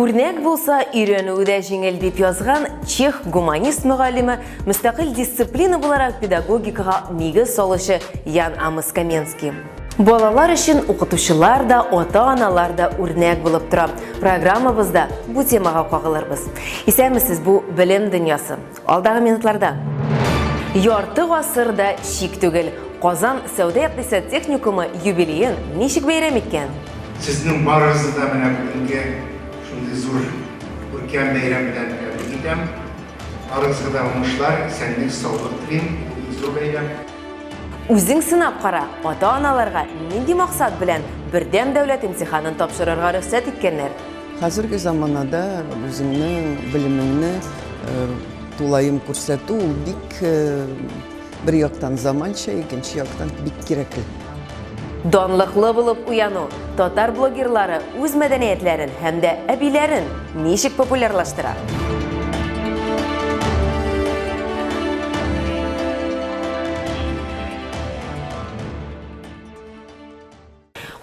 Үрнәк булса, өйрәнүе дә җиңел дип язган чех гуманист мөгаллиме, мөстәкыйль дисциплина буларак педагогикага нигез салучы Ян Амос Каменский. Балалар өчен укытучылар да, ата-аналар да үрнәк булып тора. Программабызда бу темага кагылырбыз. Исәнмесез, бу белем дөньясы. Алдагы минутларда ярты гасыр да шик түгел, Казан сәүдә-икътисад техникумы юбилеен ничек бәйрәм иткән? Сезнең барыгызны да менә бүгенге шундый зур күркәм бәйрәм белән тәбрик итәм. Барыгызга да уңышлар, исәнлек, саулык телим. Бу бик зур бәйрәм. Үзең сынап кара, ата-аналарга нинди максат белән Бердәм дәүләт имтиханын тапшырырга рөхсәт иткәннәр? Хәзерге заманада үзеңнең белемеңне тулаем күрсәтү ул бик бер яктан заманча, икенче яктан бик кирәкле. Данлыклы булып уяну татар блогерлары үз мәдәниятләрен һәм дә әбиләрен ничек популярлаштыра?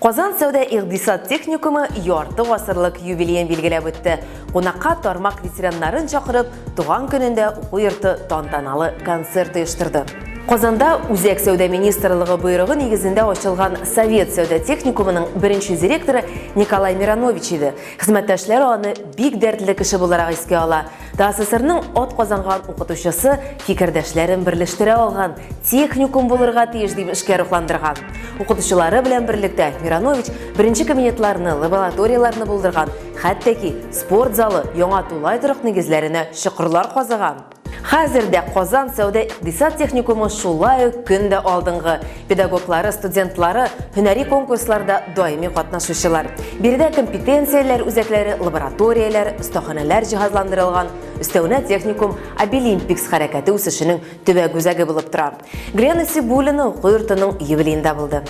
Казан сәүдә-икъдисад техникумы ярты гасырлык юбилеен билгеләп үтте. Кунакка тармак ветераннарын чакырып, туган көнендә уку йорты тантаналы концерт оештырды. Казанда Үзәк сәүдә министрлыгы боерыгы нигезендә ачылган Совет сәүдә техникумының беренче директоры Николай Миронович иде. Хезмәттәшләр аны бик дәртле кеше буларак искә ала. ТАССРның атказанган укытучысы фикердәшләрен берләштерә алган техникум булырга тиеш дип эшкә рухландырган. Укытучылары белән берлектә Миранович беренче кабинетларны, лабораторияләрне булдырган, хәтта ки спорт залы яңа тулай торак нигезләренә чокырлар казыган. Хәзер дә Казан сәүдә-икъдисад техникумы шулай ук көн дә алдынгы, Педагоглары, студентлары, һөнәри конкурсларда даими катнашучылар. Биредә компетенцияләр үзәкләре, лабораторияләр, остаханәләр җиһазландырылган, өстәвенә техникум Абилимпикс хәрәкәте үсешенең төбәк үзәге булып тора. Глена Сибулина уку йортының юбилеенда булды.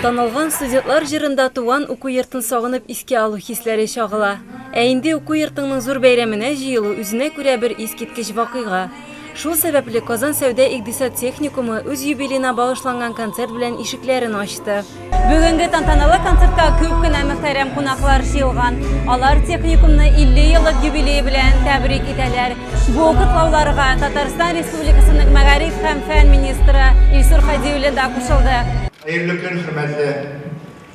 Танылган студентлар җырында туган уку йортын сагынып Искә алу хисләре чагыла. Ә инде уку йортыңның зур бәйрәменә җыелу, үзенә күрә бер искиткеч вакыйга. Шул сәбәпле Казан сәүдә-икъдисад техникумы үз юбилеена багышланган концерт белән ишекләрен ачты. Бүгенге тантаналы концертка күп кенә мөхтәрәм кунаклар җыелган. Алар техникумны 50 еллык юбилее белән тәбрик итәләр. Бу котлауларга Татарстан Республикасының мәгариф һәм фән министры Илсур Һади улы да кушылды. Хәерле көн, хөрмәтле!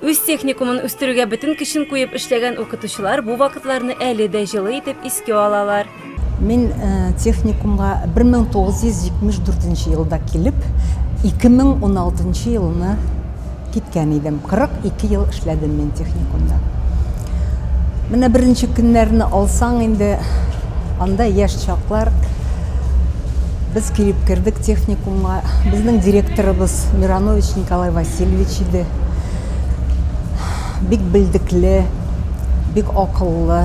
Үз техникумын үстерүгә бөтен көчен куеп эшләгән укытучылар бу вакытларны әле дә җылы итеп искә алалар. Мин техникумга 1974 нче елда килеп, 2016 нчы елны киткән идем. 42 ел эшләдем мин техникумда. Менә беренче көннәрне алсаң инде, анда яшь чаклар без килеп кердек техникумга. Безнең директорыбыз Миранович Николай Васильевич иде. Бик белдекле, бик акыллы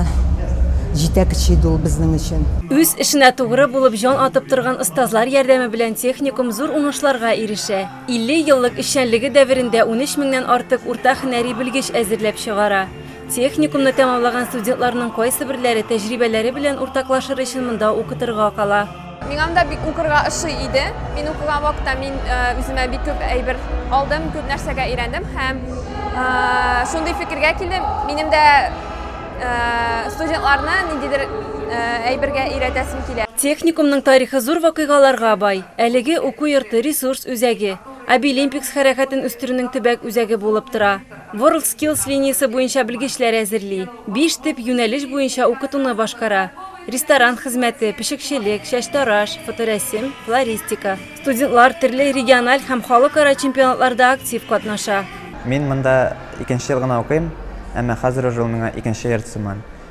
җитәкче иде ул безнең өчен. Үз эшенә тугры булып җан атып торган остазлар ярдәме белән техникум зур уңышларга ирешә. 50 еллык эшчәнлеге дәверендә унөч меңнән артык урта һөнәри белгеч әзерләп чыгара. Техникумны тәмамлаган студентларның кайсыберләре тәҗрибәләре белән уртаклашыр өчен монда укытырга кала. Миңа монда бик укырга ошый иде. Мин укыган вакытта мин үземә бик күп әйбер алдым, күп нәрсәгә өйрәндем һәм шундый фикергә килдем, минем дә студентларны ниндидер әйбергә өйрәтәсем килә. Техникумның тарихы зур вакыйгаларга бай. Әлеге уку йорты ресурс үзәге, Abilimpics хәрәкәтен үстерүнең төбәк үзәге булып тора. WorldSkills линиясе буенча белгечләр әзерли, биш төп юнәлеш буенча укытуны башкара, ресторан хезмәте, пешекчелек, чәчтараш, фоторәсем, флористика. Студентлар төрле региональ һәм халыкара чемпионатларда актив катнаша. Мин монда икенче ел гына укыйм, әмма хәзер уже ул миңа икенче йорт сыман.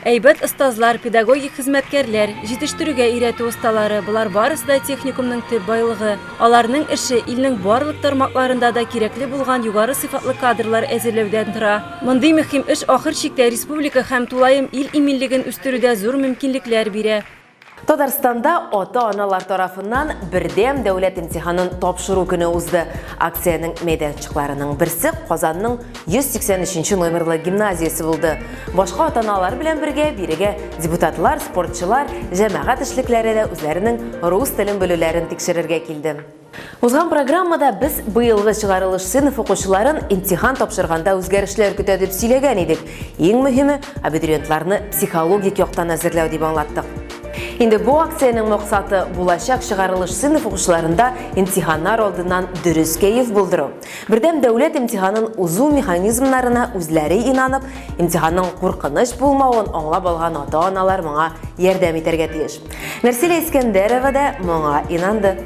Әйбәт остазлар, педагогик хезмәткәрләр, җитештерүгә өйрәтү осталары, болар барысы да техникумның төп байлыгы. Аларның эше илнең барлык тармакларында да кирәкле булган югары сыйфатлы кадрлар әзерләүдән тора. Мондый мөһим эш ахыр чиктә республика һәм тулаем ил иминлеген үстерүдә зур мөмкинлекләр бирә. Татарстанда ата-аналар тарафыннан бердәм дәүләт имтиханын тапшыру көне узды. Акциянең мәйданчыкларының берсе Казанның 183 номерлы гимназиясе булды. Башка ата-аналар белән бергә бирегә депутатлар, спортчылар, җәмәгать эшлекләре дә үзләренең рус телен белүләрен тикшерергә килде. Узган программада без быелгы чыгарылыш сыйныф укучыларын имтихан тапшырганда үзгәрешләр көтә дип сөйләгән идек. Иң мөһиме, абитуриентларны психологик яктан әзерләү дип аңлаттык. Инде бу акциянең максаты булачак чыгарылыш сыйныф укучыларында имтиханнар алдыннан дөрес кәеф булдыру. Бердәм дәүләт имтиханын узу механизмнарына үзләре инанып, имтиханның куркыныч булмавын аңлап алган ата-аналар моңа ярдәм итәргә тиеш. Нәрсилә Искәндәрова да моңа инанды.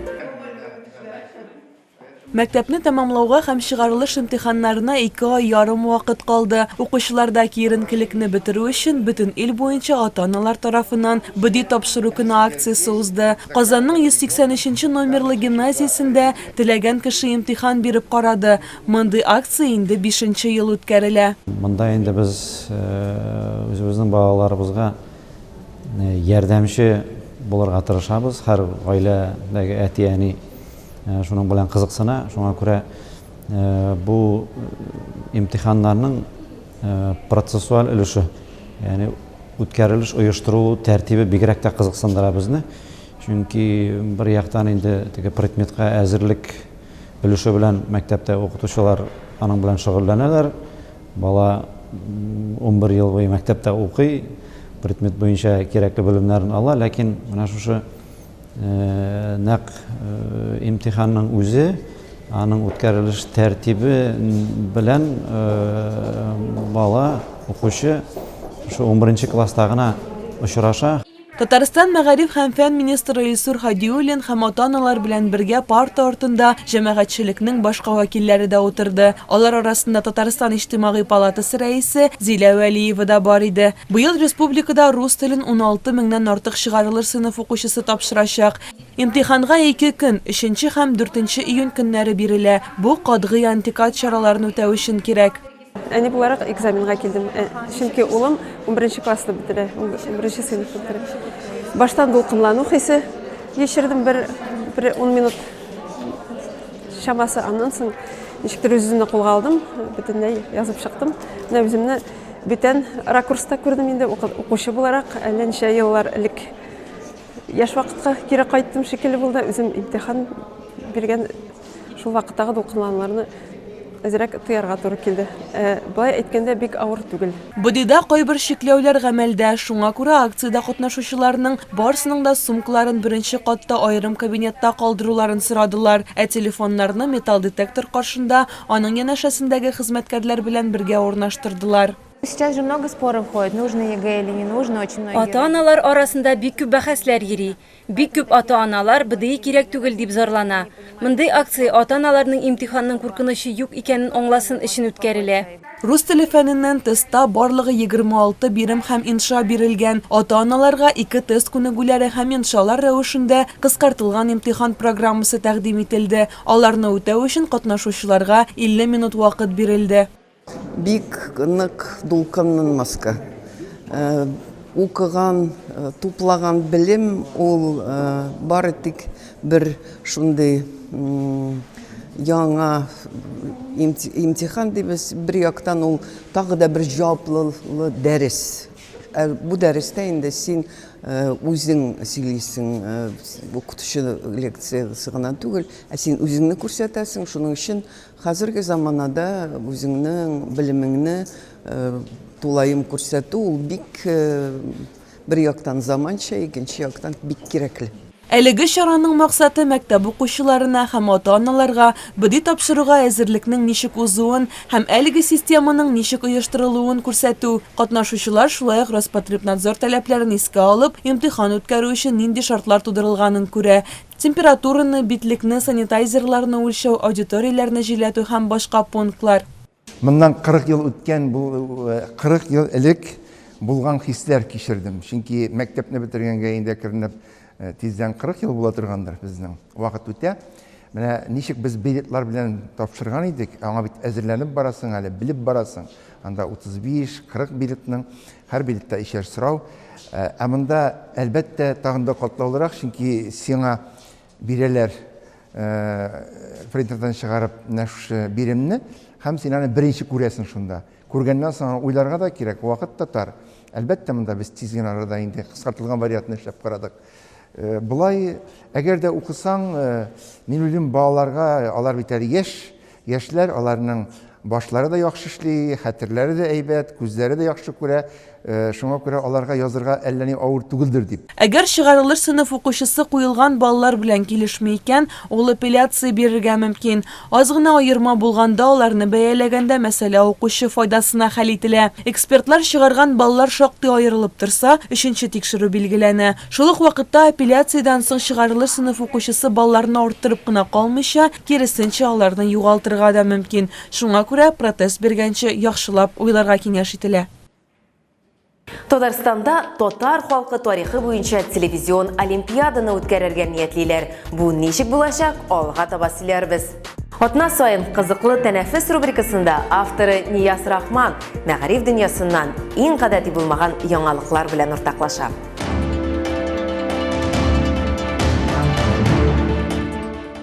Мәктәпне тәмамлауга һәм чыгарылыш имтиханнарына ике ай ярым вакыт калды. Укучыларда киеренкелекне бетерү өчен бөтен ил буенча ата-аналар тарафыннан БДИ тапшыру көне акциясе узды. Казанның 183 нче номерлы гимназиясендә Теләгән кеше имтихан биреп карады. Мондый акция инде бишенче ел үткәрелә. Монда инде без үзебезнең балаларыбызга ярдәмче булырга тырышабыз. Һәр гаиләдәге әти-әни шуның белән кызыксына. Шуңа күрә бу имтиханнарның процессуаль өлеше, ягъни үткәрелеш, оештырылу тәртибе бигрәк тә кызыксындыра безне. Чөнки бер яктан инде теге предметка әзерлек өлеше белән мәктәптә укытучылар аның белән шөгыльләнәләр. Бала унбер ел буе мәктәптә укый, предмет буенча кирәкле белемнәрен ала, ләкин менә шушы нәкъ имтиханның үзе, аның үткәрелеш тәртибе белән бала, укучы шушы унберенче класста гына очраша. Татарстан мәгариф һәм фән министры Илсур Һадиуллин һәм ата-аналар белән бергә парта артында җәмәгатьчелекнең башка вәкилләре дә утырды. Алар арасында Татарстан Иҗтимагый палатасы рәисе Зилә Вәлиева да бар иде. Быел республикада рус телен уналты меңнән артык чыгарылыш сыйныф укучысы тапшырачак. Имтиханга ике көн, өченче һәм дүртенче июнь көннәре бирелә. Бу, катгый антикад чараларын үтәү өчен кирәк. Әни буларак экзаменга килдем, э, чөнки улым 11 классны бетерә, 11 сыйныф бетерә. Баштан дулкынлану хисе кичердем бер бер 10 минут чамасы, аннан соң ничектер үземне кулга алдым, бөтенләй язып чыктым. Менә үземне бүтән ракурста күрдем инде укучы буларак, әллә ничә еллар элек яшь вакытка кире кайттым шикелле булды. Үзем имтихан биргән Шул вакыттагы дулкынлануларны әзрәк тоярга туры килде. Ә, былай әйткәндә, бик авыр түгел. БДИда кайбер чикләүләр гамәлдә, шуңа күрә акциядә катнашучыларның барысының да сумкаларын беренче катта аерым кабинетта калдыруларын сорадылар, ә телефоннарны металл детектор каршында, аның янәшәсендәге хезмәткәрләр белән бергә урнаштырдылар. Ата-аналар арасында бик күп бәхәсләр йөри, Бик күп ата-аналар БДИ кирәк түгел дип зарлана. Мондый акция ата-аналарның имтиханның куркынычы юк икәнен аңласын өчен үткәрелә. Рус теле фәненнән тестта барлыгы егерме алты бирем һәм инша бирелгән. Ата-аналарга ике тест күнегүләре һәм иншалар рәвешендә кыскартылган имтихан программасы тәкъдим ителде. Аларны үтәү өчен катнашучыларга 50 минут вакыт бирелде. Бик нык дулкынланмаска. Укыган, туплаган белем ул бары тик бер шундый яңа имтихан дибез, бер яктан ул тагы да бер җаваплылы дәрес. Бу дәрестә инде син үзең сөйлисең, укытучы лекциясе гына түгел, ә син үзеңне күрсәтәсең, шуның өчен Хәзерге заманада үзеңнең белемеңне тулаем күрсәтү ул бик бер яктан заманча, икенче яктан бик кирәкле. Әлеге чараның максаты мәктәп укучыларына һәм ата-аналарга БДИ тапшыруга әзерлекнең ничек узуын һәм әлеге системаның ничек оештырылуын күрсәтү, катнашучылар шулай ук Роспотребнадзор таләпләрен искә алып, имтихан үткәрү өчен нинди шартлар тудырылганын күрә, Температураны, битлекне, санитайзерларны үлчәү, аудиторияләрне җилләтү һәм башка пунктлар. Моннан 40 ел үткән бу 40 ел элек булган хисләр кичердем. Чөнки мәктәпне бетергәнгә инде әкренләп тиздән 40 ел була торгандыр безнең. Вакыт үтә. Менә ничек без билетлар белән тапшырган идек, аңа бит әзерләнеп барасың әле, белеп барасың. Анда 35-40 билетның, һәр билетта ишәр сорау. Ә монда, әлбәттә, тагын да катлаулырак, чөнки сиңа бирәләр принтердан чыгарып менә шушы биремне, һәм син аны беренче күрәсең шунда. Күргәннән соң аны уйларга да кирәк, вакыт та тар. Әлбәттә, монда без тиз генә арада инде кыскартылган вариантны эшләп карадык. Болай, әгәр дә укысаң, мин уйлыйм, балаларга, алар бит әле яшь, Яшьләр, аларның башлары да яхшы эшли, хәтерләре дә әйбәт, күзләре дә яхшы күрә, шуңа күрә аларга язырга әллә ни авыр түгелдер дип. Әгәр чыгарылыш сыйныф укучысы куелган баллар белән килешми икән, ул апелляция бирергә мөмкин. Аз гына аерма булганда аларны бәяләгәндә мәсьәлә укучы файдасына хәл ителә. Экспертлар чыгарган баллар шактый аерылып торса, өченче тикшерү билгеләнә. Шул ук вакытта апелляциядән соң чыгарылыш сыйныф укучысы балларны арттырып кына калмыйча, Киресенчә, аларны югалтырга да мөмкин. Шуңа күрә протез биргәнче яхшылап уйларга киңәш ителә. Татарстанда татар халкы тарихы буенча телевизион олимпиаданы үткәрергә ниятлиләр. Бу ничек булачак, алга таба сөйләрбез. Атна саен Кызыклы тәнәфес рубрикасында авторы Нияз Рахман мәгариф дөньясыннан иң гадәти булмаган яңалыклар белән уртаклаша.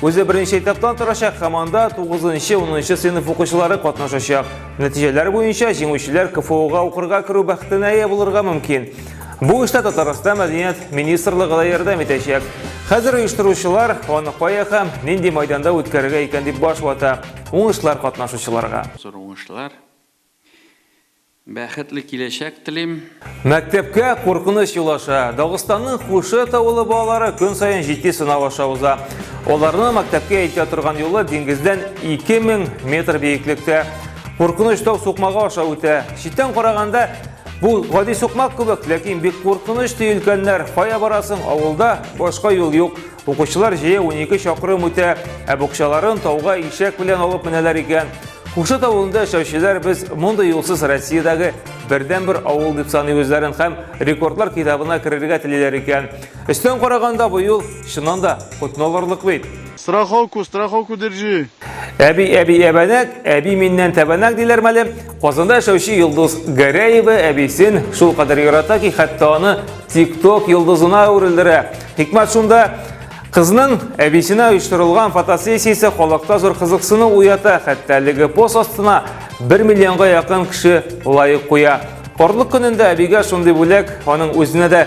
Үзе беренче этаптан торачак һәм анда 9-10 сыйныф укучылары катнашачак. Нәтиҗәләр буенча җиңүчеләр КФУга укырга керү бәхетенә ия булырга мөмкин. Бу эштә Татарстан мәдәният министрлыгы да ярдәм итәчәк. Хәзер оештыручылар аны кая һәм нинди майданда үткәрергә икән дип баш вата. Уңышлар катнашучыларга. Зур уңышлар. Бәхетле киләчәк телим. Мәктәпкә куркыныч юл аша. Дагыстанның Кушет авылы балалары көн саен җитди сынау аша уза. Аларны мәктәпкә илтә торган юлы диңгездән 2000 метр биеклектә. Куркыныч тау сукмагы аша үтә. Читтән караганда бу гади сукмак кебек, ләкин бик куркыныч ди өлкәннәр. Кая барасың, авылда башка юл юк. Укучылар җәя унике чакрым үтә, ә букчаларын тауга ишәк белән алып менәләр икән. Кушыт авылында яшәүчеләр без мондый юлсыз Россиядәге бердәнбер авыл дип саный үзләрен һәм рекордлар китабына керергә телиләр икән. Өстән караганда бу юл чыннан да котны алырлык бит. Страховку, страховку держи. Әби, әби, әбәнәк, әби миннән тәбәнәк диләр мәле. Казанда яшәүче Йолдыз Гәрәева әбисен шул кадәр ярата ки, хәтта аны TikTok йолдызына әверелдерә. Хикмәт шунда, кызның әбисенә оештырылган фотосессиясе халыкта зур кызыксыну уята, хәтта әлеге пост астына 1 миллионга якын кеше лайк куя. Карлык көнендә әбигә шундый бүләк аның үзенә дә